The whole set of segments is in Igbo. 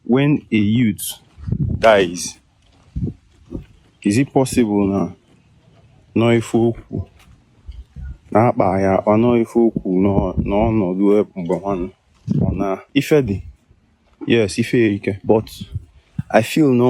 When a youth dies, is it possible na nọ ife okwu na-akpa ya akpa nọ ife okwu n'ọ- n'ọnọdụ ebe mgbe nwanne ọ na ife dị yes ife ike but I feel no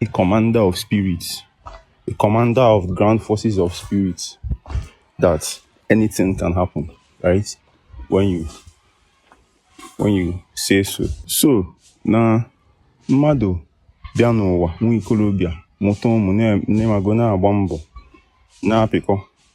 a commander of spirits, a commander of the ground forces of spirits, that anything can happen, right? When you when you say so. So na mmadụ bịa n'ụwa nwa ikolobịa mụta ụmụ na-emago na-agba mbọ na-apịkọ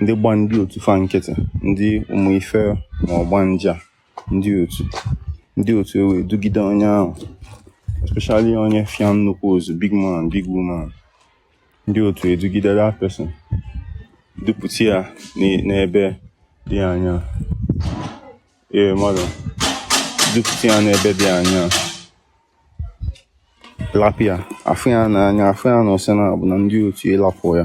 ndị gba ndị otu fa nkịtị ndị ụmụ ife ma ọgbanje ndị otu ndị otu ewe dugide onye ahụ especially onye fịa nnukwu ozu big man big woman ndị otu edugide that person dupụta ya n'ebe dị anya ee mmadụ dupụta ya n'ebe dị anya lapụ ya afụ ya n'anya afụ ya na ọ sị na abụ na ndị otu ịlapụ ya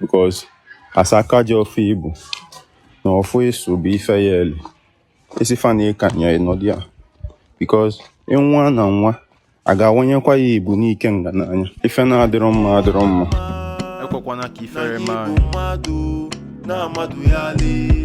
because as aka ji ọfọ ị bụ na ọfụ ịsụ bụ ife ya-eli isi fa na ịka nya ịnọdụ ya because ịnwa na nwa a ga-awanyekwa ya ibu n'ikenga n'anya ife na-adịrọ mma adịrọ mma ekwekwana ka ifere mee anyị na mmadụ ya lee